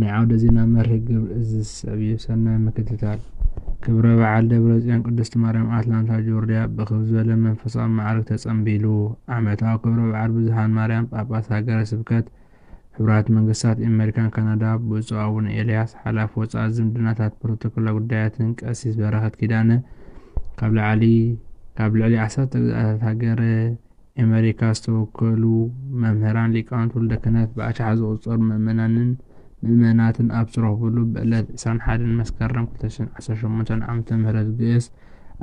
ናይ ዓውደ ዜና መርህ ግብር እዚ ዝስዕብ እዩ፣ ሰናይ ምክትታል። ክብረ በዓል ደብረጽዮን ቅድስት ማርያም ኣትላንታ ጆርድያ ብክብ ዝበለ መንፈሳዊ መዓርግ ተጸንቢሉ። ዓመታዊ ክብረ በዓል ብዙኃን ማርያም ጳጳስ ሃገረ ስብከት ሕቡራት መንግሥታት ኤመሪካን ካናዳ ብፁዕ ኣቡነ ኤልያስ ሓላፊ ወፃኢ ዝምድናታት ፕሮቶኮላ ጉዳያትን ቀሲስ በረኸት ኪዳነ ካብ ልዕሊ ዓሰርተ ግዝኣታት ሃገረ ኤመሪካ ዝተወከሉ መምህራን፣ ሊቃውንቲ ውልደ ክህነት፣ ብኣሽሓት ዝቑጸሩ ምእመናንን ምእመናትን ኣብ ዝተረኽቡሉ ብዕለት ዕስራን ሓደን መስከረም ክልተ ሽሕን ዓሰርተ ሸሞንተን ዓመተ ምህረት ግእዝ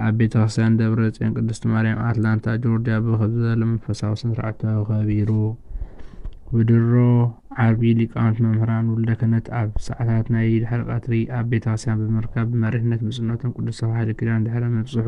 ኣብ ቤተ ክርስቲያን ደብረ ጽዮን ቅድስት ማርያም ኣትላንታ ጆርጅያ ብኽብ ዝበለ መንፈሳዊ ስነ ስርዓት ተኸቢሩ። ብድሮ ዓርቢ ሊቃውንቲ መምህራን ውልደ ክህነት ኣብ ሰዓታት ናይ ድሕሪ ቀትሪ ኣብ ቤተ ክርስቲያን ብምርካብ ብመሪሕነት ብፁዕነቶም ቅዱስ ተዋሕዶ ኪዳን ድሕረ ምብጽሑ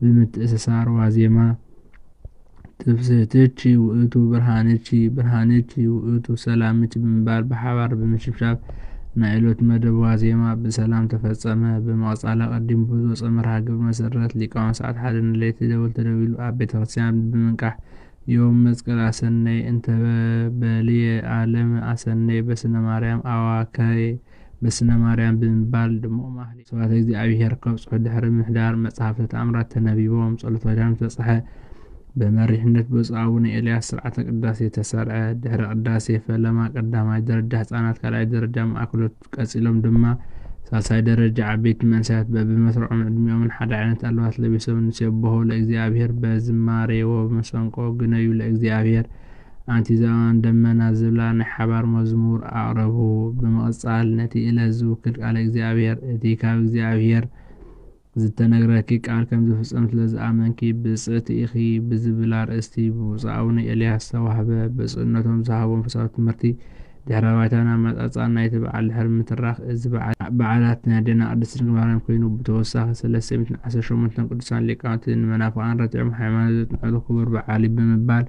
ብምትእስሳር ዋዜማ ትፍስህትች ውእቱ ብርሃንች ብርሃንች ውእቱ ሰላምች ብምባል ብሓባር ብምሽብሻብ ናይ ዕለቱ መደብ ዋዜማ ብሰላም ተፈጸመ። ብምቕጻል ኣቐዲሙ ብዝወጸ መርሃ ግብሪ መሰረት ሊቃውንት ሰዓት ሓደ ንለይቲ ደወል ተደዊሉ ኣብ ቤተ ክርስቲያን ብምንቃሕ ዮም መስቀል ኣሰነይ እንተበ በልየ ኣለም ኣሰነይ በስነ ማርያም ኣዋከይ በስነ ማርያም ብምባል ድሙቕ ማህሌት ስብሐተ እግዚኣብሔር ከብጽሑ ድሕሪ ምሕዳር መጽሐፍተ ተኣምራት ተነቢቦም ጸሎተ ኪዳን ተብጽሐ። በመሪሕነት ብፁዕ ኣቡነ ኤልያስ ስርዓተ ቅዳሴ ተሰርዐ። ድሕሪ ቅዳሴ ፈለማ ቀዳማይ ደረጃ ህጻናት ካልኣይ ደረጃ ማእከሎት ቀጺሎም ድማ ሳልሳይ ደረጃ ዓበይቲ መንእሰያት በብመስርዖም ዕድሚኦምን ሓደ ዓይነት ኣልባስ ለቢሶም ንሴብሖ ለእግዚኣብሔር በዝማሬ ወብመሰንቆ ግነዩ ለእግዚኣብሔር ኣንቲ ዝባን ደመና ዝብላ ናይ ሓባር መዝሙር ኣቕረቡ። ብምቕጻል ነቲ እለት ዝውክል ቃለ እግዚኣብሔር፣ እቲ ካብ እግዚኣብሔር ዝተነግረኪ ቃል ከም ዝፍጸም ስለ ዝኣመንኪ ብጽእቲ ኢኺ ብዝብል ኣርእስቲ ብብፁዕ ኣቡነ ኤልያስ ዝተዋህበ ብፁዕነቶም ዝሃብዎም ፈሳዊ ትምህርቲ ድሕረ ባይታን ኣመጻጽኣን ናይቲ በዓል ድሕሪ ምትራኽ እዚ በዓል በዓላት ናይ ኣዴና ቅድስት ድንግል ማርያም ኮይኑ ብተወሳኺ ሰለስተ ሚእትን ዓሰርተ ሸሞንተ ቅዱሳን ሊቃውንቲ ንመናፍቃን ረቲዖም ሃይማኖት ዘጽንዕሉ ክቡር በዓል እዩ ብምባል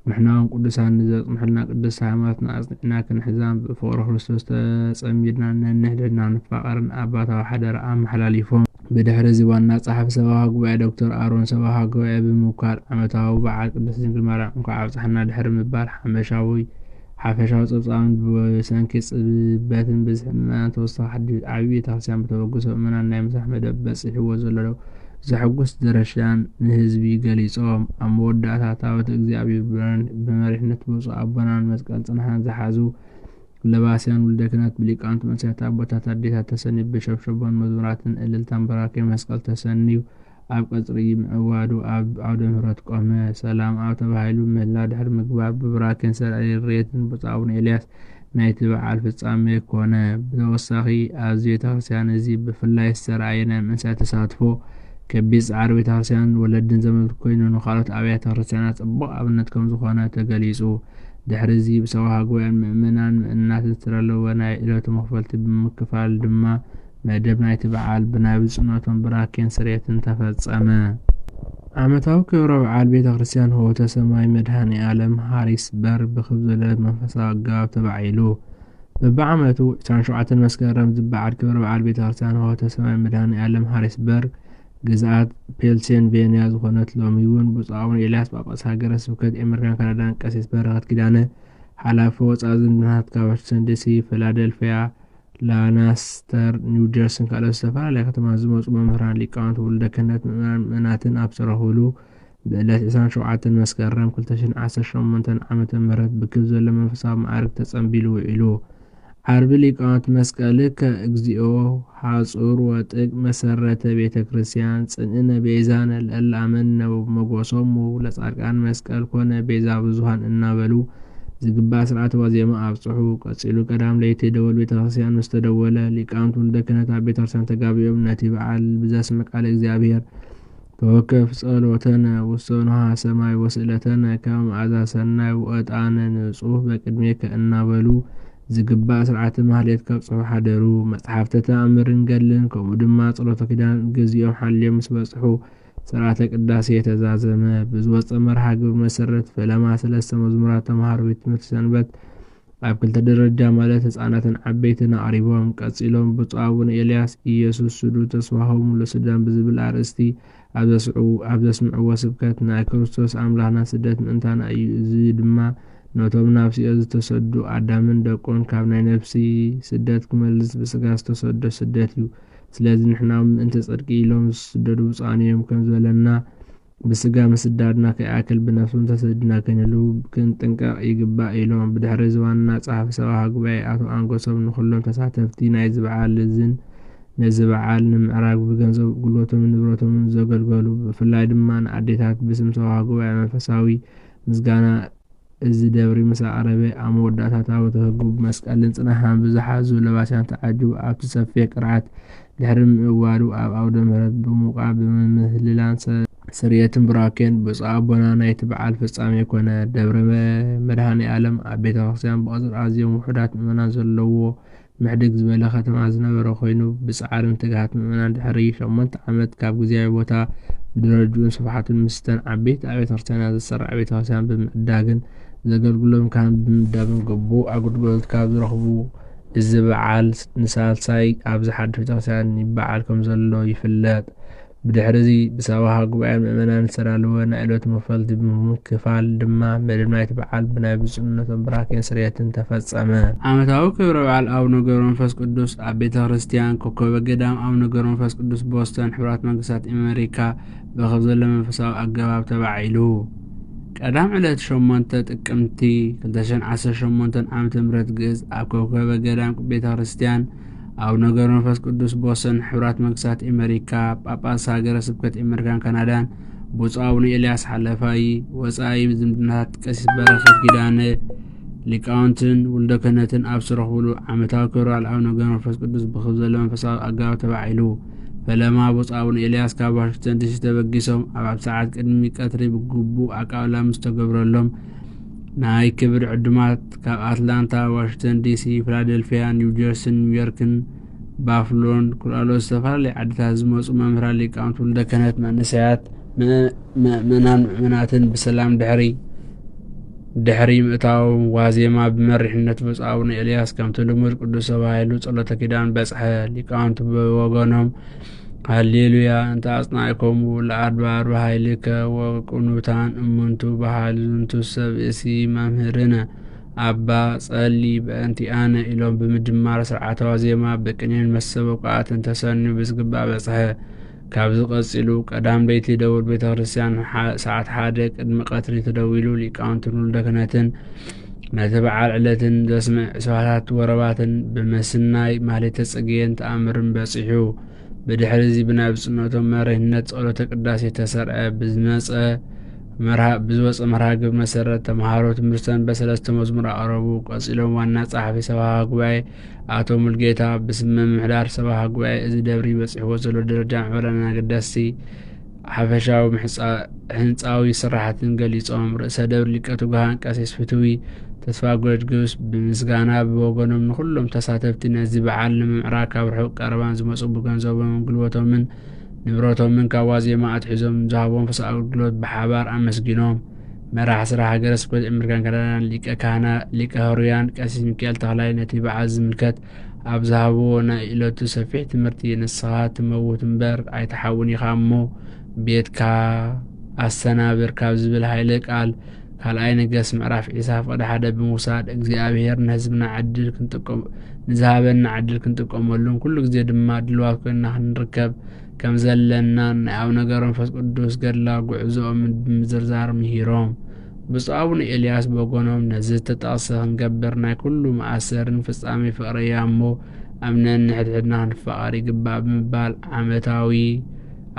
ንሕናውን ቅዱሳን ንዘጽንሑልና ቅድስቲ ሃይማኖትና ኣጽኒዕና ክንሕዛን ብፍቕሪ ክርስቶስ ተጸሚድና ነንሕድሕድና ንፋቐርን ኣባታዊ ሓደራ ኣመሓላሊፎም። ብድሕርዚ ዋና ጸሓፊ ሰበኻ ጉባኤ ዶክተር ኣሮን ሰበኻ ጉባኤ ብምውካል ዓመታዊ በዓል ቅድስት ድንግል ማርያም እንኳዕ ኣብጽሓና ድሕሪ ምባል ሓመሻዊ ሓፈሻዊ ጸብጻባት ብሰንኪ ጽበትን ብዝሒ ምእመናን ተወሳኺ ሓድሽ ዓብዪ ቤተ ክርስቲያን ብተበግሶ ምእመናን ናይ ምስራሕ መደብ በጺሕዎ ዘሎ ዘሐጉስ ደረሻን ንህዝቢ ገሊጾም ኣብ መወዳእታ ታቦተ እግዚኣብሔር ብመሪሕነት ብፁዕ ኣቦናን መስቀል ጽንሓን ዝሓዙ ለባስያን ውልደ ክህነት ብሊቃውንት መንእሰያት ኣቦታት ኣዴታት ተሰንዩ ብሸብሸቦን መዝሙራትን እልልታን በራኬ መስቀል ተሰንዩ ኣብ ቀጽሪ ምዕዋዱ ኣብ ዓውደ ምህረት ቆመ። ሰላም ኣብ ተባሂሉ ምህላ ድሕሪ ምግባር ብብራኬን ሰረዕሊ ርየትን ብጹእ ኣቡነ ኤልያስ ናይቲ በዓል ፍጻሜ ኮነ። ብተወሳኺ ኣብዚ ቤተክርስቲያን እዚ ብፍላይ ዝተራእየ ናይ መንእሰያት ተሳትፎ ከቢድ ጻዕሪ ቤተክርስቲያንን ወለድን ዘመልክት ኮይኑ ንካልኦት ኣብያተ ክርስቲያናት ጽቡቕ ኣብነት ከምዝኾነ ተገሊጹ። ድሕሪዚ ብሰብኻ ጉባኤን ምእመናን ምእመናትን ዝተዳለወ ናይ ዕለቱ መኽፈልቲ ብምክፋል ድማ መደብ ናይቲ በዓል ብናይ ብፁዕነቶም ብራኬን ስርየትን ተፈጸመ። ዓመታዊ ክብረ በዓል ቤተ ክርስቲያን ኅወተ ሰማይ መድኃኔ ዓለም ሃሪስበር ብክብ ዝበለ መንፈሳዊ ኣገባብ ተባዒሉ። በብዓመቱ ዕስራን ሸውዓተን መስከረም ዝበዓል ክብረ በዓል ቤተ ክርስቲያን ኅወተ ሰማይ መድኃኔ ዓለም ሃሪስበር ግዝኣት ፔልሴንቬንያ ዝኾነት ሎሚ እውን ብፁዕ ኣቡነ ኤልያስ ጳጳስ ሃገረ ስብከት ኤመርካን ካናዳን ቀሲስ በረኸት ኪዳነ ሓላፊ ወፃኢ ዝምድናታት ካብ ዋሽንግተን ዲሲ፣ ፊላደልፍያ፣ ላናስተር፣ ኒው ጀርሲን ካልኦት ዝተፈላለያ ከተማታት ዝመጹ መምህራን፣ ሊቃውንቲ ውልደ ክህነት፣ ምእመናን ምእመናትን ኣብ ዝተረኽብሉ ብዕለት ዕስራን ሸውዓተን መስከረም ክልተ ሽሕን ዓሰርተ ሸሞንተን ዓመተ ምህረት ብክብ ዝበለ መንፈሳዊ መዓርግ ተጸንቢሉ ውዒሉ። ዓርቢ ሊቃውንቲ መስቀልከ እግዚኦ ሐጹር ወጥቅ መሰረተ ቤተ ክርስቲያን ጽንእነ ቤዛነ ለእለ አመንነ ወብመጎሶሙ ለጻድቃን መስቀል ኮነ ቤዛ ብዙሃን እናበሉ ዝግባእ ስርዓተ ዋዜማ ኣብጽሑ። ቀጺሉ ቀዳም ለይቲ ደወል ቤተክርስቲያን ምስ ተደወለ፣ ሊቃውንት ውልደ ክህነት ኣብ ቤተክርስቲያን ተጋቢኦም ነቲ በዓል ብዘስምዕ ቃለ እግዚኣብሔር ተወከፍ ጸሎተነ ውስተ ንሃ ሰማይ ወስእለተነ ከመ መዓዛ ሰናይ ወዕጣነ ንጹህ በቅድሜከ እናበሉ ዝግባእ ስርዓተ ማህሌት ከብጽሑ ሓደሩ። መጽሓፍተ ተኣምርን ገድልን ከምኡ ድማ ጸሎተ ኪዳን ግዚኦም ሓልዮም ምስ በጽሑ ሥርዓተ ቅዳሴ ተዛዘመ። ብዝወጸ መርሃ ግብሪ መሰረት ፈለማ ሰለስተ መዝሙራት ተምሃሮ ቤት ትምህርቲ ሰንበት ኣብ ክልተ ደረጃ ማለት ህፃናትን ዓበይትን ኣቕሪቦም ቀጺሎም ብፁዕ ኣቡነ ኤልያስ ኢየሱስ ስዱ ተስፋሆሙ ለሱዳን ብዝብል ኣርእስቲ ኣብ ዘስምዕዎ ስብከት ናይ ክርስቶስ ኣምላኽና ስደት ምእንታና እዩ እዚ ድማ ነቶም ናብ ሲኦል ዝተሰዱ ኣዳምን ደቁን ካብ ናይ ነፍሲ ስደት ክመልስ ብስጋ ዝተሰዶ ስደት እዩ ስለዚ ንሕናውን ምእንቲ ጽድቂ ኢሎም ዝስደዱ ብጹኣን እዮም ከም ዝበለና ብስጋ ምስዳድና ከይኣክል ብነፍስውን ተሰዲድና ክንህሉ ክንጥንቀቕ ይግባእ ኢሎም። ብድሕሪ እዚ ዋና ጸሓፊ ሰብኣዊ ጉባኤ ኣቶ ኣንጎሶም ንኹሎም ተሳተፍቲ ናይዚ በዓል እዝን ነዚ በዓል ንምዕራግ ብገንዘብ ጉልበቶምን ንብረቶምን ዘገልገሉ ብፍላይ ድማ ንኣዴታት ብስም ሰብኣዊ ጉባኤ መንፈሳዊ ምስጋና እዚ ደብሪ ምስ ኣቕረበ፣ ኣብ መወዳእታ ታቦተ ሕጉ ብመስቀልን ጽናሓን ብዝሓዙ ለባስያን ተዓጅቡ ኣብቲ ሰፊሕ ቅርዓት ድሕሪ ምእዋዱ ኣብ ኣውደ ምሕረት ብምውቃዕ ብምህልላን ስርየትን ቡራኬን ብፁዕ ኣቦና ናይቲ በዓል ፍጻሜ ኮነ። ደብረ መድኃኔ ዓለም ኣብ ቤተ ክርስቲያን ብቕጽሪ ኣዝዮም ውሑዳት ምእመናን ዘለዉዎ ምሕድግ ዝበለ ከተማ ዝነበረ ኮይኑ ብጻዕርን ትግሃት ምእመናን ድሕሪ ሸሞንተ ዓመት ካብ ግዝያዊ ቦታ ብደረጅኡን ስፍሓቱን ምስተን ዓበይቲ ኣብያተ ክርስቲያናት ዝሰራዕ ቤተ ክርስቲያን ብምዕዳግን ዘገልግሎም ካህን ብምምዳብን ግቡእ ኣገልግሎት ካብ ዝረኽቡ እዚ በዓል ንሳልሳይ ኣብዚ ሓድሽ ቤተ ክርስቲያን ይበዓል ከም ዘሎ ይፍለጥ። ብድሕሪዚ ብሳዋሃ ጉባኤ ምእመናን ዝተዳለወ ናይ ዕለቱ መክፈልቲ ብምክፋል ድማ መደብ ናይቲ በዓል ብናይ ብፁዕነቶም ብራኬን ስርየትን ተፈጸመ። ዓመታዊ ክብረ በዓል ኣቡነ ገብረመንፈስ ቅዱስ ኣብ ቤተ ክርስቲያን ኮከበ ገዳም ኣቡነ ገብረመንፈስ ቅዱስ ቦስተን ሕቡራት መንግስታት ኤመሪካ ብኸብ ዘሎ መንፈሳዊ ኣገባብ ተባዒሉ ቀዳም ዕለት ሸሞንተ ጥቅምቲ ክልተ ሽሕን ዓሰርተ ሸሞንተን ዓመተ ምህረት ግእዝ ኣብ ኮከበ ገዳም ቤተ ክርስቲያን ኣቡነ ገብረ መንፈስ ቅዱስ ቦሰን ሕብራት መንግስታት ኣመሪካ ጳጳስ ሃገረ ስብከት ኣመሪካን ካናዳን ብፁዕ ኣቡነ ኤልያስ ሓለፋይ ወፃኢ ዝምድናታት ቀሲስ በረኸት ኪዳነ ሊቃውንትን ውልደ ክህነትን ኣብ ዝረኽብሉ ዓመታዊ ክብረ በዓል ኣቡነ ገብረ መንፈስ ቅዱስ ብክብ ዘሎ መንፈሳዊ ኣጋባብ ተባዒሉ ፈለማ ብፁዕ ኣቡነ ኤልያስ ካብ ዋሽንግተን ዲሲ ተበጊሶም ኣብ ኣብ ሰዓት ቅድሚ ቀትሪ ብግቡእ ኣቃብላ ምስ ተገብረሎም ናይ ክብሪ ዕዱማት ካብ ኣትላንታ፣ ዋሽንግተን ዲሲ፣ ፊላደልፊያ፣ ኒው ጀርሲን ኒው ዮርክን፣ ባፍሎን ኩላሎት ዝተፈላለዩ ዓድታት ዝመፁ መምህራን ሊቃውንቲ ውልደ ክህነት መንእሰያት መእመናን ምእመናትን ብሰላም ድሕሪ ድሕሪ ምእታው ዋዜማ ብመሪሕነት ብፁዕ ኣቡነ ኤልያስ ከምቲ ልሙድ ቅዱስ ተባሂሉ ጸሎተ ኪዳን በጽሐ። ሊቃውንቲ ብወገኖም ሃሌሉያ እንተ ኣጽናዕኮሙ ለኣድባር በሃይልከ ወቅኑታን እሙንቱ በሃል ዝንቱ ሰብ እሲ መምህርነ ኣባ ጸሊ በእንቲኣነ ኢሎም ብምድማር ስርዓታዊ ዜማ ብቅኔን መሰበቋኣትን ተሰንዩ ብዝግባእ በጽሐ። ካብዚ ቀጺሉ ቀዳም ለይቲ ደውል ቤተ ክርስቲያን ሰዓት ሓደ ቅድሚ ቀትሪ ተደዊሉ ሊቃውንትን ውልደ ክህነትን ነቲ በዓል ዕለትን ዘስምዕ ስባታት ወረባትን ብምስናይ ማሌተ ጽጌን ተኣምርን በጺሑ ብድሕሪ እዚ ብናይ ብጽነቶም መሪህነት ጸሎተ ቅዳሴ ተሰርዐ ብዝመፀ ብዝወፀ መርሃ ግብሪ መሰረት ተምሃሮ ትምህርተን በሰለስተ መዝሙር ኣቕረቡ። ቀጺሎም ዋና ጸሓፊ ሰብሃ ጉባኤ ኣቶ ሙልጌታ ብስም ምምሕዳር ሰብሃ ጉባኤ እዚ ደብሪ በፂሕዎ ዘሎ ደረጃ ምሕበረን ኣገደስቲ ሓፈሻዊ ህንፃዊ ስራሕትን ገሊፆም። ርእሰ ደብር ሊቀ ትጉሃን ቀሲስ ፍትዊ ተስፋ ጎርጊስ ብምስጋና ብወገኖም ንኩሎም ተሳተፍቲ ነዚ በዓል ንምምዕራግ ካብ ርሑቅ ቀረባን ዝመፁ ብገንዘቦምን ጉልበቶምን ንብረቶምን ካብ ዋዜማ ኣትሒዞም ዝሃቦም ፍሳ ኣገልግሎት ብሓባር ኣመስጊኖም መራሕ ስራ ሃገረ ስብከት ኤመሪካን ካናዳን ሊቀ ካህና ሊቀ ሕሩያን ቀሲስ ሚካኤል ተክላይ ነቲ በዓል ዝምልከት ኣብ ዝሃብዎ ናይ እለቱ ሰፊሕ ትምህርቲ ንስኻ ትመውት እምበር ኣይትሓውን ኢኻ እሞ ቤትካ ኣሰናብር ካብ ዝብል ሃይለ ቃል ካልኣይ ነገስ ምዕራፍ ዒሳ ፍቅዲ ሓደ ብምውሳድ እግዚኣብሄር ንህዝብና ዕድል ክንጥቀም ንዝሃበና ዕድል ክንጥቀመሉን ኩሉ ግዜ ድማ ድልዋት ኮይና ክንርከብ ከም ዘለናን ናይ ኣቡነ ገብረ መንፈስ ቅዱስ ገድላዊ ጉዕዞኦም ብምዝርዛር ምሂሮም ብፁዕ ኣቡነ ኤልያስ በጎኖም ነዚ ዝተጠቕሰ ክንገብር ናይ ኩሉ መኣሰርን ፍጻሜ ፍቕሪ እያ እሞ ኣምነን ንሕድሕድና ክንፋቐር ይግባእ ብምባል ዓመታዊ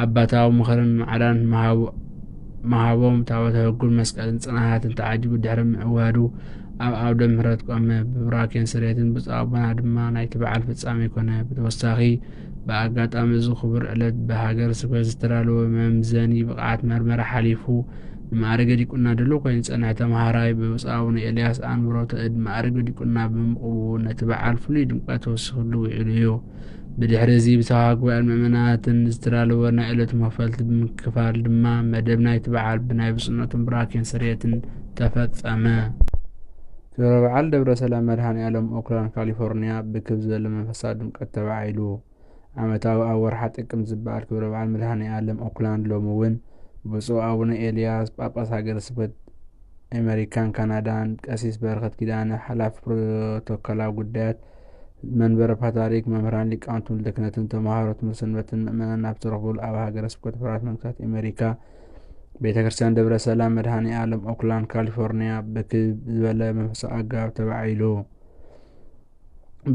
ኣባታዊ ምኽርን ማዕዳን መሃቦም ታቦተ ሕጉን መስቀልን ጽናሃትን ተዓጅቡ ድሕሪ ምዕዋዱ ኣብ ኣውደ ምሕረት ቆመ። ብብራኬን ስሬትን ብፁዕ ኣቦና ድማ ናይቲ በዓል ፍጻሜ ኮነ። ብተወሳኺ ብኣጋጣሚ እዚ ክቡር ዕለት ብሃገር ስብከት ዝተዳለወ መምዘኒ ብቕዓት መርመራ ሓሊፉ ንማዕርገ ዲቁና ድሉው ኮይኑ ዝጸንሐ ተምሃራይ ብብፁዕ ኣቡነ ኤልያስ ኣንብሮተ እድ ማዕርገ ዲቁና ብምቕቡ ነቲ በዓል ፍሉይ ድምቀት ተወሲኽሉ ውዒሉ እዩ። ብድሕሪ እዚ ብሰብካ ጉባኤን ምእመናትን ዝተዳለወ ናይ ዕለቱ መክፈልቲ ብምክፋል ድማ መደብ ናይቲ በዓል ብናይ ብፁዕነቶም ብራኬን ስርየትን ተፈጸመ። ክብረ በዓል ደብረ ሰላም መድሃኔኣለም ኦክላንድ ካሊፎርኒያ ብክብ ዝበለ መንፈሳዊ ድምቀት ተባዒሉ። ዓመታዊ ኣብ ወርሓ ጥቅምት ዝበዓል ክብረ በዓል መድሃኔኣለም ኦክላንድ ሎሚ እውን ብፁዕ ኣቡነ ኤልያስ ጳጳስ ሃገረ ስብከት ኣመሪካን ካናዳን ቀሲስ በረኸት ኪዳነ ሓላፊ ፕሮቶኮላዊ ጉዳያት መንበረ ፓትርያርክ መምህራን ሊቃውንትን ወልደ ክህነትን ተምሃሮ ትምህርቲ ሰንበትን ምእመናን ኣብ ዝተረኽቡሉ ኣብ ሃገረ ስብከት ሕቡራት መንግስታት ኣመሪካ ቤተክርስትያን ደብረ ሰላም መድኃኔዓለም ኦክላንድ ካሊፎርኒያ ብክብ ዝበለ መንፈሳዊ ኣገባብ ተባዒሉ።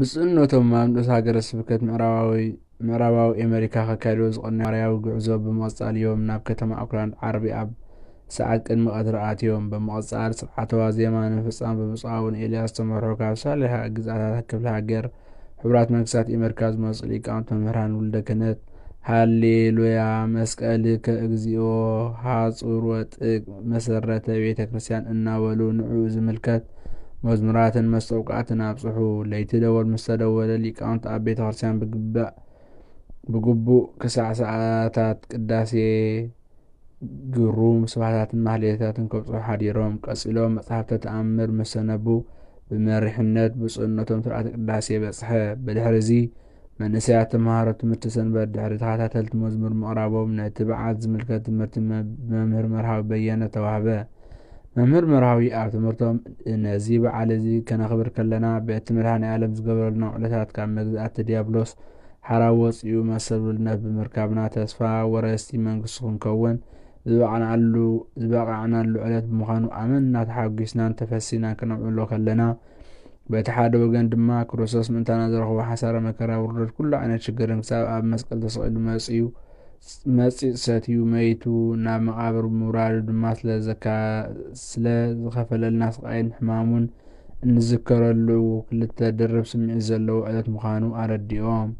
ብፁዕነቶም ኣብ ንኡስ ሃገረ ስብከት ምዕራባዊ ኣሜሪካ ከካይድዎ ዝቐነዩ ማርያዊ ጉዕዞ ብምቕጻል እዮም ናብ ከተማ ኦክላንድ ዓርቢ ኣብ ሰዓት ቅድሚ ቀትሪ ኣትዮም። ብምቕጻል ስርዓተ ዋዜማ ንምፍጻም ብብፁዕ ኣቡነ ኤልያስ ዝተመርሑ ካብ ሳልሕ ግዝኣታት ክፍለ ሃገር ሕቡራት መንግስታት ኤመርካ ዝመጹ ሊቃውንቲ መምህራን ውልደ ክህነት ሃሌሉያ መስቀልከ እግዚኦ ሃጹር ወጥቅ መሰረተ ቤተ ክርስቲያን እናበሉ ንዕኡ ዝምልከት መዝሙራትን መስተውቃዕትን ኣብጽሑ። ለይቲ ደወል ምስ ተደወለ ሊቃውንቲ ኣብ ቤተ ክርስቲያን ብግቡእ ክሳዕ ሰዓታት ቅዳሴ ግሩም ስብሃታትን ማህሌታትን ከብጽሑ ሓዲሮም ቀጺሎም መጽሓፍተ ተኣምር ምስ ሰነቡ ብመሪሕነት ብፁዕነቶም ስርዓተ ቅዳሴ በጽሐ። ብድሕሪዚ መንእሰያት ተምሃሮ ትምህርቲ ሰንበት ድሕሪ ተኸታተልቲ መዝሙር ምቕራቦም ነቲ በዓል ዝምልከት ትምህርቲ ብመምህር መርሃዊ በየነ ተዋህበ። መምህር መርሃዊ ኣብ ትምህርቶም ነዚ በዓል እዚ ከነኽብር ከለና በቲ መድሃኔ ዓለም ዝገበረልና ውዕለታት ካብ መግዛእቲ ዲያብሎስ ሓራ ወጺኡ መሰል ውልነት ብምርካብና ተስፋ ወረስቲ መንግስቲ ክንከውን ዝበቕናሉ ዝበቓዕናሉ ዕለት ብምዃኑ ኣመና ተሓጒስናን ተፈሲናን ክነምዕሎ ከለና በቲ ሓደ ወገን ድማ ክርስቶስ ምእንታና ዝረኽቦ ሓሳረ መከራ ውርደት ኩሉ ዓይነት ሽግርን ክሳብ ኣብ መስቀል ተሰቒሉ መጽዩ መጺጽ ሰትዩ መይቱ ናብ መቓብር ምውራዱ ድማ ስለ ዝኸፈለልና ስቓይን ሕማሙን እንዝከረሉ ክልተ ድርብ ስምዒት ዘለዎ ዕለት ምዃኑ ኣረዲኦም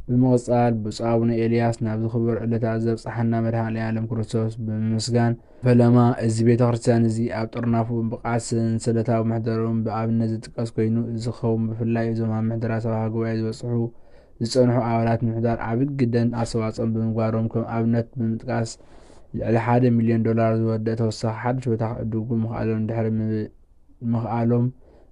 ብምቕጻል ብፁዕ ኣቡነ ኤልያስ ናብዚ ክቡር ዕለታት ዘብጽሓና መድኃኔ ዓለም ክርስቶስ ብምምስጋን ፈለማ እዚ ቤተ ክርስቲያን እዚ ኣብ ጥርናፉ ብቕዓት ሰንሰለታዊ ምሕደርኡን ብኣብነት ዝጥቀስ ኮይኑ እዚ ክኸውን ብፍላይ እዞም ኣብ ምሕደራ ሰበኻ ጉባኤ ዝበጽሑ ዝጸንሑ ኣባላት ምሕዳር ዓቢ ግደን ኣስተዋጽኦን ብምግባሮም ከም ኣብነት ብምጥቃስ፣ ልዕሊ ሓደ ሚልዮን ዶላር ዝወድእ ተወሳኺ ሓድሽ ቦታ ክዕድጉ ምኽኣሎም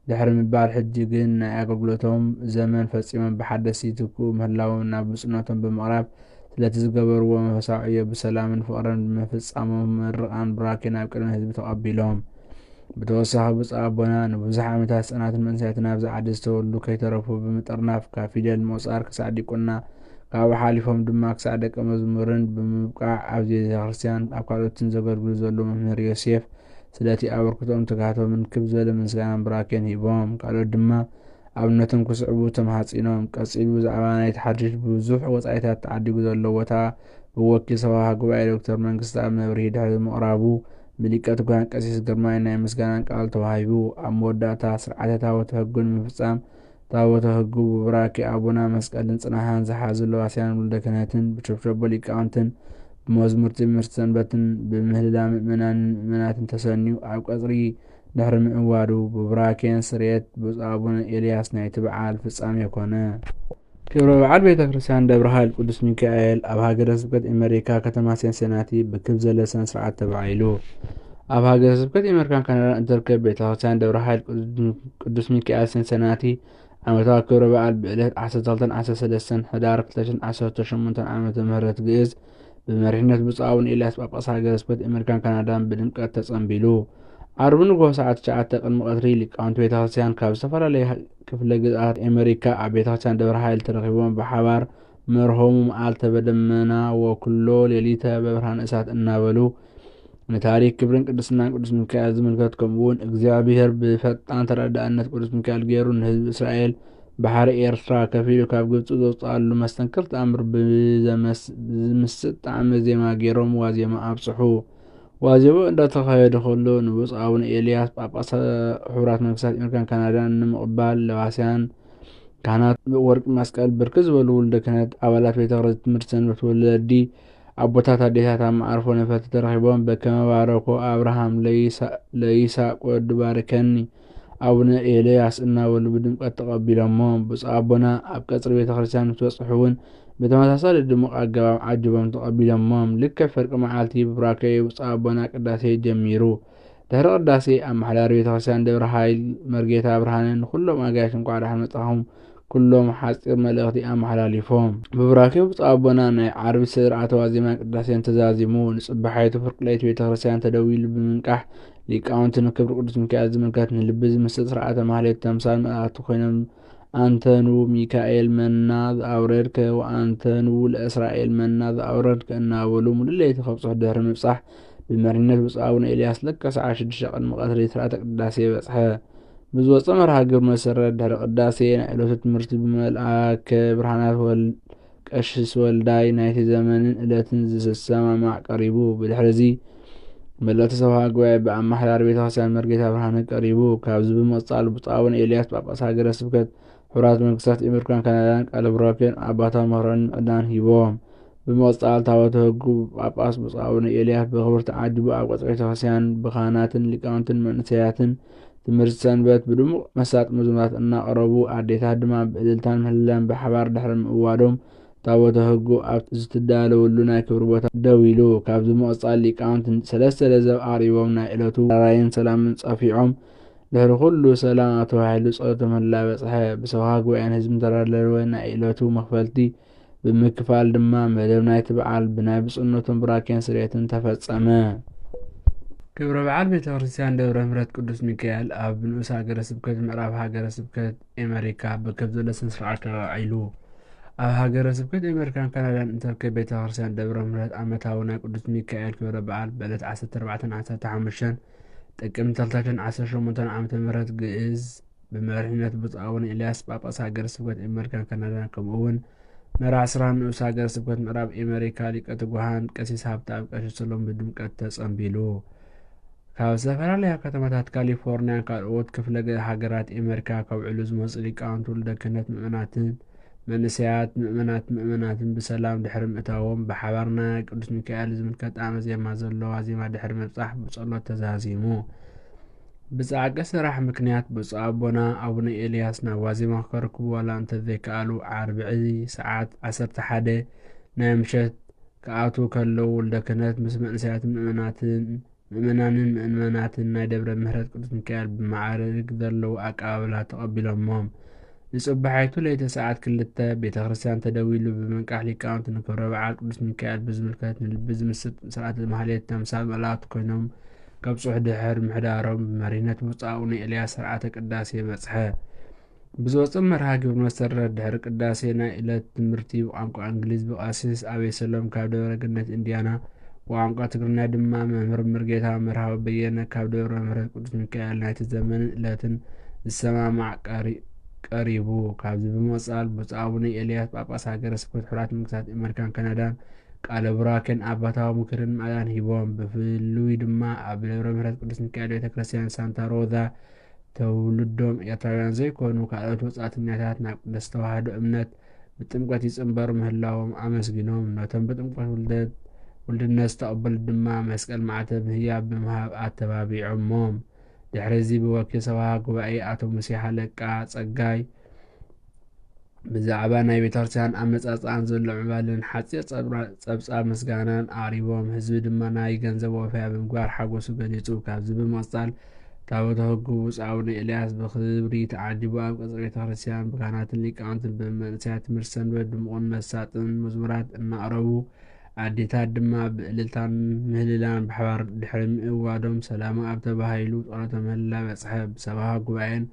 ድሕሪ ምባል ሕጂ ግን ናይ ኣገልግሎቶም ዘመን ፈጺሞም ብሓደስቲ ይትክኡ ምህላዎም ናብ ብጹእነቶም ብምቕራብ ስለቲ ዝገበርዎ መንፈሳዊ ዕዮ ብሰላምን ፍቕርን ምፍጻሞም ምርቓን ቡራኬን ኣብ ቅድሚ ህዝቢ ተቐቢሎም ብተወሳኺ ብፁዕ ኣቦና ንብዙሕ ዓመታት ህጻናትን መንእሰያትን ኣብዚ ዓዲ ዝተወልዱ ከይተረፉ ብምጥርናፍ ካብ ፊደል ምቑጻር ክሳዕ ዲቁና ካብኡ ሓሊፎም ድማ ክሳዕ ደቀ መዝሙርን ብምብቃዕ ኣብዚ ቤተ ክርስቲያን ኣብ ካልኦትን ዘገልግሉ ዘለዉ መምህር ዮሴፍ ስለቲ ኣበርክቶኦም ትግሃቶምን ክብ ዝበለ ምስጋናን ብራኬን ሂቦም ካልኦት ድማ ኣብነቶም ክስዕቡ ተማሓጺኖም ቀጺሉ ብዛዕባ ናይቲ ሓድሽ ብዙሕ ወጻኢታት ተዓዲጉ ዘሎ ቦታ ብወኪል ሰብኻ ጉባኤ ዶክተር መንግስቲ ኣብ መብርሂ ድሕሪ ምቕራቡ ብሊቀ ትጉሃን ቀሲስ ግርማይ ናይ ምስጋናን ቃል ተዋሂቡ። ኣብ መወዳእታ ስርዓተ ታቦተ ሕጉ ንምፍጻም ታቦተ ሕጉ ብቡራኬ ኣቡና መስቀልን ጽናሃን ዝሓዙ ለዋስያን ውልደ ክህነትን ብሸብሸቦ ሊቃውንትን ብመዝሙር ትምህርቲ ሰንበትን ብምህልላ ምእመናንን ምእመናትን ተሰንዩ ኣብ ቀጽሪ ድሕሪ ምዕዋዱ ብቡራኬን ስርየት ብፁዕ ኣቡነ ኤልያስ ናይቲ በዓል ፍጻሜ ኮነ። ክብረ በዓል ቤተ ክርስቲያን ደብረ ኃይል ቅዱስ ሚካኤል ኣብ ሃገረ ስብከት ኤመሪካ ከተማ ሴንሴናቲ ብክብ ዘለ ስነ ስርዓት ተባዒሉ። ኣብ ሃገረ ስብከት ኤመሪካን ካናዳን እትርከብ ቤተ ክርስቲያን ደብረ ኃይል ቅዱስ ሚካኤል ሴንሴናቲ ዓመታዊ ክብረ በዓል ብዕለት 12 13 ሕዳር 2018 ዓ ም ግእዝ ብመሪሕነት ብፁዕ ኣቡነ ኤልያስ ጳጳስ ሃገረ ስብከት ኣሜሪካን ካናዳን ብድምቀት ተጸንቢሉ ዓርቢ ንግሆ ሰዓት 9 ቅድሚ ቀትሪ ሊቃውንቲ ቤተ ክርስቲያን ካብ ዝተፈላለየ ክፍለ ግዝኣት ኣሜሪካ ኣብ ቤተ ክርስቲያን ደብረ ሓይል ተረኺቦም ብሓባር መርሆሙ መዓልተ በደመና ወክሎ ሌሊተ በብርሃን እሳት እናበሉ ንታሪክ ክብርን ቅድስናን ቅዱስ ሚካኤል ዝምልከት ከምኡውን እግዚኣብሔር ብፈጣን ተረዳእነት ቅዱስ ሚካኤል ገይሩ ንህዝቢ እስራኤል ባሕሪ ኤርትራ ከፊሉ ካብ ግብፂ ዘውፅኣሉ መስተንክር ተኣምር ብዝምስጥ ጣዕመ ዜማ ገይሮም ዋዜማ ኣብፅሑ። ዋዜማ እንዳተኻየደ ከሎ ንብፁዕ ኣቡነ ኤልያስ ጳጳስ ሕቡራት መንግስታት ኣሜሪካን ካናዳን ንምቕባል ለባስያን ካህናት ወርቂ መስቀል ብርክት ዝበሉ ውልደ ክህነት ኣባላት ቤተ ትምህርቲ ሰንበት ወለዲ ኣቦታት ኣዴታት ኣብ መዓርፎ ነፈርቲ ተረኺቦም በከመ ባረኮ ኣብርሃም ለይሳቅ ወዱ ባርከኒ ኣቡነ ኤልያስ እናበሉ ብድምቀት ተቀቢሎሞ ብፁዕ ኣቦና ኣብ ቀፅሪ ቤተ ክርስቲያን ምስ በፅሑ እውን ብተመሳሳሊ ድሙቅ ኣገባብ ዓጅቦም ተቀቢሎሞም ልክዕ ፍርቂ መዓልቲ ብቡራኬ ብፁዕ ኣቦና ቅዳሴ ጀሚሩ ድሕሪ ቅዳሴ ኣመሓዳሪ ቤተክርስትያን ደብረ ኃይል መርጌታ ብርሃነ ንኩሎም ኣጋይሽ እንኳዕ ደሓን መጻኹም ኩሎም ሓፂር መልእኽቲ ኣመሓላሊፎም ብቡራኬ ብፁዕ ኣቦና ናይ ዓርቢ ስርዓተ ዋዜማ ቅዳሴን ተዛዚሙ ንጽባሓይቱ ፍርቂ ለይቲ ቤተ ክርስቲያን ተደዊሉ ብምንቃሕ ሊቃውንቲ ንክብሪ ቅዱስ ሚካኤል ዝምልከት ንልቢ ዝምስጥ ስርዓተ ማህሌት ተምሳል መላእክቲ ኮይኖም ኣንተኑ ሚካኤል መና ዝኣውረድከ ወኣንተኑ ለእስራኤል መና ዝኣውረድከ እናበሉ ሙሉእ ለይቲ ከብጽሑ ድሕሪ ምብጻሕ ብመሪነት ብፁዕ ኣቡነ ኤልያስ ለከ ሰዓት 6 ቅድሚ ቀትሪ ስርዓተ ቅዳሴ በጽሐ። ብዝወፀ መርሃ ግብር መሰረት ድሕሪ ቅዳሴ ናይ ዕለቱ ትምህርቲ ብመልኣከ ብርሃናት ቀሽስ ወልዳይ ናይቲ ዘመንን ዕለትን ዝሰማማዕ ቀሪቡ። ብድሕርዚ መለቲ ሰብሃ ጉባኤ ብኣማሓዳሪ ቤተክርስትያን መርጌታ ብርሃነ ቀሪቡ። ካብዚ ብምቕፃል ብፁዕ ኣቡነ ኤልያስ ጳጳስ ሃገረ ስብከት ሕቡራት መንግስታት ኤመርካን ካናዳን ቃለ ቡራኬን ኣባታዊ መክሮን ምዕዳን ሂቦም። ብምቕጻል ታወተ ህጉ ጳጳስ ብፁዕ ኣቡነ ኤልያስ በክብርቲ ዓዲ ብኣብ ቀጽሪ ቤተክርስቲያን ብካህናትን ሊቃውንትን መንእሰያትን ትምህርቲ ሰንበት ብድሙቕ መሳጢ መዝሙራት እናቐረቡ ኣዴታት ድማ ብእልልታን ምህልላን ብሓባር ድሕሪ ምእዋዶም ታወተ ህጉ ኣብ ዝትዳለወሉ ናይ ክብሪ ቦታ ደው ኢሉ ካብዚ ምቕጻል ሊቃውንት ሰለስተ ለዘብ ኣቕሪቦም ናይ ዕለቱ ራራይን ሰላምን ጸፊዖም ድሕሪ ኩሉ ሰላም ኣብ ተባሂሉ ጸሎቶም እንዳበጽሐ ብሰብካ ጉባኤን ህዝብን ዝተዳለወ ናይ እለቱ መክፈልቲ ብምክፋል ድማ መደብ ናይቲ በዓል ብናይ ብፁዕነቶም ብራኬን ስርየትን ተፈጸመ። ክብረ በዓል ቤተ ክርስቲያን ደብረ ምሕረት ቅዱስ ሚካኤል ኣብ ንኡስ ሃገረ ስብከት ምዕራብ ሃገረ ስብከት ኤመሪካ ብከብ ዘሎ ስነ ስርዓት ተባዒሉ። ኣብ ሃገረ ስብከት ኣሜሪካን ካናዳን እትርከብ ቤተ ክርስቲያን ደብረ ምሕረት ዓመታዊ ናይ ቅዱስ ሚካኤል ክብረ በዓል በለት 14 ዓሰርተ ሓሙሽተን ጥቅምት ተልተትን ዓሰርተ ሸሞንተን ዓመተ ምህረት ግእዝ ብመሪሕነት ብፁዕ ኣቡነ ኤልያስ ጳጳስ ሃገረ ስብከት ኤመሪካን ካናዳን ከምኡውን መራሕ ስራን ንኡስ ሃገረ ስብከት ምዕራብ ኤመሪካ ሊቀ ትጉሃን ቀሲስ ሃብተኣብ ቀሺ ሰሎም ብድምቀት ተጸምቢሉ። ካብ ዝተፈላለያ ከተማታት ካሊፎርንያን ካልኦት ክፍለ ሃገራት ኤመሪካ ከብዕሉ ዝመፁ ሊቃውንት ውልደ ክህነት ምእመናትን መንእሰያት ምእመናት ምእመናትን ብሰላም ድሕሪ ምእታዎም ብሓባር ናይ ቅዱስ ሚካኤል ዝምልከት ጣዕመ ዜማ ዘሎ ዋዜማ ድሕሪ ምብጻሕ ብጸሎት ተዛዚሙ። ብጻዕቂ ስራሕ ምክንያት ብፁዕ ኣቦና ኣቡነ ኤልያስ ናብ ዋዜማ ክከርክቡ ዋላ እንተዘይከኣሉ ዓርብዒ ሰዓት ዓሰርተ ሓደ ናይ ምሸት ክኣትዉ ከለዉ ወልደ ክህነት ምስ መንእሰያትን ምእመናትን ምእመናንን ምእመናትን ናይ ደብረ ምሕረት ቅዱስ ሚካኤል ብመዓርግ ዘለዎ ኣቀባብላ ተቐቢሎሞም። ንጽባሒቱ ለይተ ሰዓት ክልተ ቤተ ክርስቲያን ተደዊሉ ብምንቃሕ ሊቃውንቲ ንክብረ በዓል ቅዱስ ሚካኤል ብዝምልከት ንልቢ ዝምስጥ ስርዓተ ማህሌት ተምሳል መላእክት ኮይኖም ከብጽሑ ድሕር ምሕዳሮም ብመሪነት ብፁዕ ኣቡነ ኤልያስ ስርዓተ ቅዳሴ በጽሐ። ብዝወጸ መርሃ ግብሪ መሰረት ድሕሪ ቅዳሴ ናይ እለት ትምህርቲ ብቋንቋ እንግሊዝ ብቀሲስ ኣቤ ሰሎም ካብ ደብረ ገነት እንዲያና ብቋንቋ ትግርኛ ድማ መምህር ምርጌታ መርሃዊ በየነ ካብ ደብረ ምሕረት ቅዱስ ሚካኤል ናይቲ ዘመንን እለትን ዝሰማማዕ ቀሪ ቀሪቡ ካብዚ ብምቕጻል ብፁዕ ኣቡነ ኤልያስ ጳጳስ ሃገረ ስብከት ሕራት መንግስታት ኣመሪካን ካናዳን ቃለ ቡራኬን ኣባታዊ ምክርን ማእዳን ሂቦም ብፍሉይ ድማ ኣብ ደብረ ምሕረት ቅዱስ ሚካኤል ቤተ ክርስቲያን ሳንታ ሮዛ ተውልዶም ኤርትራውያን ዘይኮኑ ካልኦት ወጻእተኛታት ናብ ቅድስት ተዋህዶ እምነት ብጥምቀት ይጽንበሩ ምህላዎም ኣመስጊኖም፣ ነቶም ብጥምቀት ውልደት ውልድነት ዝተቐበሉ ድማ መስቀል ማዕተብ ምህያብ ብምሃብ ኣተባቢዖሞም። ድሕሪዚ ብወኪል ሰበኻ ጉባኤ ኣቶ ሙሴ ሃለቃ ጸጋይ፣ ብዛዕባ ናይ ቤተክርስቲያን ኣመጻጽኣን ዘሎ ምዕባለን ሓጺር ጸብጻብ ምስጋናን ኣቕሪቦም፣ ህዝቢ ድማ ናይ ገንዘብ ወፈያ ብምግባር ሓጎሱ ገሊጹ። ካብዚ ብምቕጻል ታቦተ ሕጉ ብፁዕ ኣቡነ ኤልያስ ብኽብሪ ተዓጂቡ ኣብ ቀጽሪ ቤተክርስቲያን ብካህናትን ሊቃውንትን ብመንእሰያት ትምህርቲ ሰንበት ድሙቕን መሳጥን መዝሙራት እናቕረቡ ኣዴታት ድማ ብእልልታን ምህልላን ብሓባር ድሕሪ ምእዋዶም ሰላማ ኣብ ተባሂሉ ጸሎተ ምህልላ በጽሐ። ብሰበኻ ጉባኤን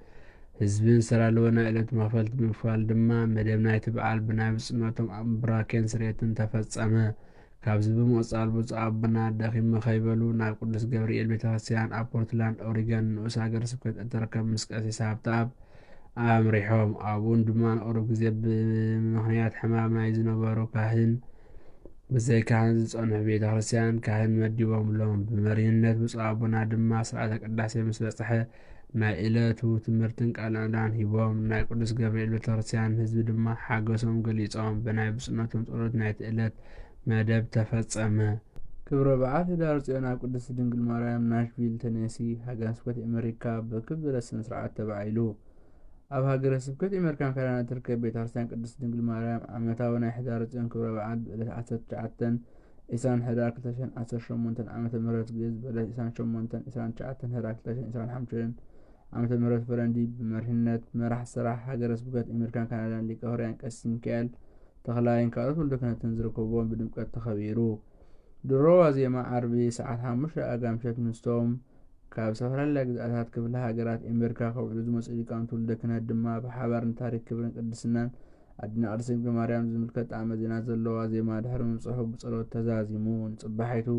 ህዝብን ሰላልወ ናይ ዕለት መኽፈልቲ ብምክፋል ድማ መደብ ናይቲ በዓል ብናይ ብፅነቶም ኣብ ብራኬን ስሬትን ተፈፀመ። ካብዚ ብምቕፃል ብፁዕ ኣቦና ደኺመ ከይበሉ ናብ ቅዱስ ገብርኤል ቤተ ክርስቲያን ኣብ ፖርትላንድ ኦሪገን ንኡስ ሃገረ ስብከት እትርከብ ምስ ቀሲስ ሃብተኣብ ኣምሪሖም ኣብኡን ድማ ንቕሩብ ግዜ ብምኽንያት ሕማም ናይ ዝነበሩ ካህን ብዘይ ካህን ዝጸንሑ ቤተ ክርስቲያን ካህን መዲቦምሎም ብመሪህነት ብፁዕ ኣቦና ድማ ስርዓተ ቅዳሴ ምስ በጽሐ ናይ እለቱ ትምህርትን ቃል ናእዳን ሂቦም ናይ ቅዱስ ገብርኤል ቤተክርስትያን ህዝቢ ድማ ሓገሶም ገሊጾም ብናይ ብፁዕነቶም ጸሎት ናይቲ እለት መደብ ተፈጸመ። ክብረ በዓል ህዳር ጽዮን ኣብ ቅድስቲ ድንግል ማርያም ናሽቪል ተነሲ ሃገረ ስብከት ኤመሪካ ብርክብ ዝበለ ስነ ስርዓት ተባዒሉ። ኣብ ሃገረ ስብከት ኤመሪካን ካናዳን እትርከብ ቤተ ክርስትያን ቅድስቲ ድንግል ማርያም ዓመታዊ ናይ ሕዳር ጽዮን ክብረ በዓል ብእለት ዓሰርተ ትሽዓተ ኢሳን ሕዳር ክልተ ሽሕን ዓሰርተ ሸሞንተን ዓመተ ምህረት ግእዝ በለት ኢሳን ሸሞንተን ዒስራን ትሽዓተን ሕዳር ክልተ ሽሕን ዒስራን ሓምሽን ዓመተ ምህረት ፈረንጂ ብመሪሕነት መራሕ ስራሕ ሃገረ ስብከት ኣሜሪካን ካናዳን ሊቀ ሕሩያን ቀሲስ ሚካኤል ተኽላይን ካልኦት ወልደ ክህነትን ዝርከብዎም ብድምቀት ተኸቢሩ። ድሮ ዋዜማ ዓርቢ ሰዓት ሓሙሽተ ኣጋ ምሸት ምስቶም ካብ ዝተፈላለያ ግዝኣታት ክፍለ ሃገራት ኣሜሪካ ከውዕሉ ዝመፅኡ ሊቃውንቲ ወልደ ክህነት ድማ ብሓባር ንታሪክ ክብርን ቅድስናን ኣድና ኣርሴም ገማርያም ዝምልከት ጣዕመ ዜና ዘለዋ ዜማ ድሕሪ ምብጽሑ ብጸሎት ተዛዚሙ ንጽባሒቱ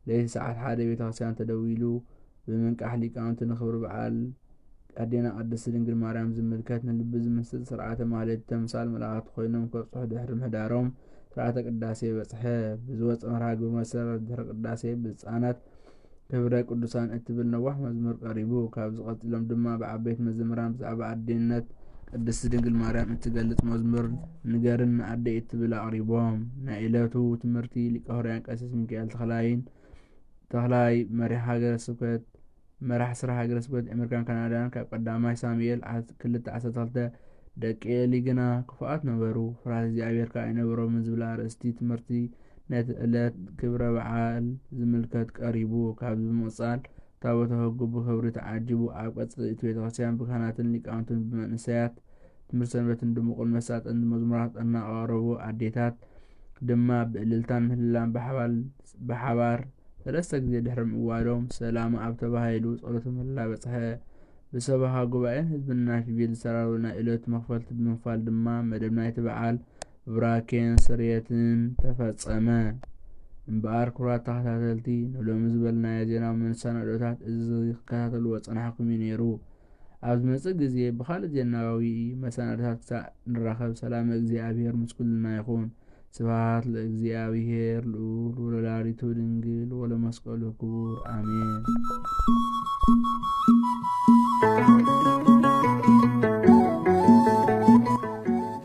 ለይቲ ሰዓት ሓደ ቤተክርስትያን ተደዊሉ ብምንቃሕ ሊቃውንቲ ንክብሪ በዓል ኣዴና ቅድስቲ ድንግል ማርያም ዝምልከት ንልቢ ዝምስጥ ስርዓተ ማህሌት ተምሳል መላእኽቲ ኮይኖም ከብጽሑ ድሕሪ ምህዳሮም ስርዓተ ቅዳሴ በጽሐ። ብዝወጸ መርሃ ግብሪ መሰረት ድሕሪ ቅዳሴ ብህጻናት ክብረ ቅዱሳን እትብል ነዋሕ መዝሙር ቀሪቡ። ካብዚ ቀጺሎም ድማ ብዓበይቲ መዘምራን ብዛዕባ ኣዴነት ቅድስቲ ድንግል ማርያም እትገልጽ መዝሙር ንገርኒ ኣደይ እትብል ኣቕሪቦም። ናይ ዕለቱ ትምህርቲ ሊቀ ሆርያን ቀሲስ ሚካኤል ተኽላይን ተኽላይ መሪሕ ሃገረ ስብከት መራሕ ስራ ሃገረ ስብከት ኣሜሪካን ካናዳን ካብ ቀዳማይ ሳሙኤል ክልተ ዓሰርተ ክልተ ደቂ ኤሊ ግና ክፉኣት ነበሩ፣ ፍርሃት እግዚኣብሔር ከኣ ኣይነበሮምን ዝብላ ኣርእስቲ ትምህርቲ ነቲ ዕለት ክብረ በዓል ዝምልከት ቀሪቡ ካብ ብምቕጻል ታቦተ ሕጉ ብኽብሪ ተዓጂቡ ኣብ ቀጽሪ እቲ ቤተ ክርስቲያን ብካህናትን ሊቃውንትን ብመንእሰያት ትምህርቲ ሰንበትን ድሙቕን መሳጥን መዝሙራት እናቐረቡ ኣዴታት ድማ ብእልልታን ምህልላን ብሓባር ሰለስተ ግዜ ድሕሪ ምእዋዶም ሰላም ኣብ ተባሂሉ ጸሎተ ምህልላ በጽሐ። ብሰበኻ ጉባኤን ህዝብን ናሽቪል ዝተራረበ ናይ ዕለቱ መኽፈልቲ ብምክፋል ድማ መደብ ናይቲ በዓል ብራኬን ስርየትን ተፈጸመ። እምበኣር ክቡራት ተኸታተልቲ ንሎሚ ዝበልናዮ ዜናዊ መንሳናዶታት እዚ ክከታተልዎ ጸናሕኩም እዩ ነይሩ። ኣብ ዝመጽእ ግዜ ብኻልእ ዜናዊ መሰናዶታት ክሳእ ንራኸብ ሰላመ እግዚኣብሔር ምስ ኩልና ይኹን። ስብሃት ለእግዚኣብሔር ልኡል ወለወላዲቱ ድንግል ወለመስቀሉ ክቡር ኣሜን።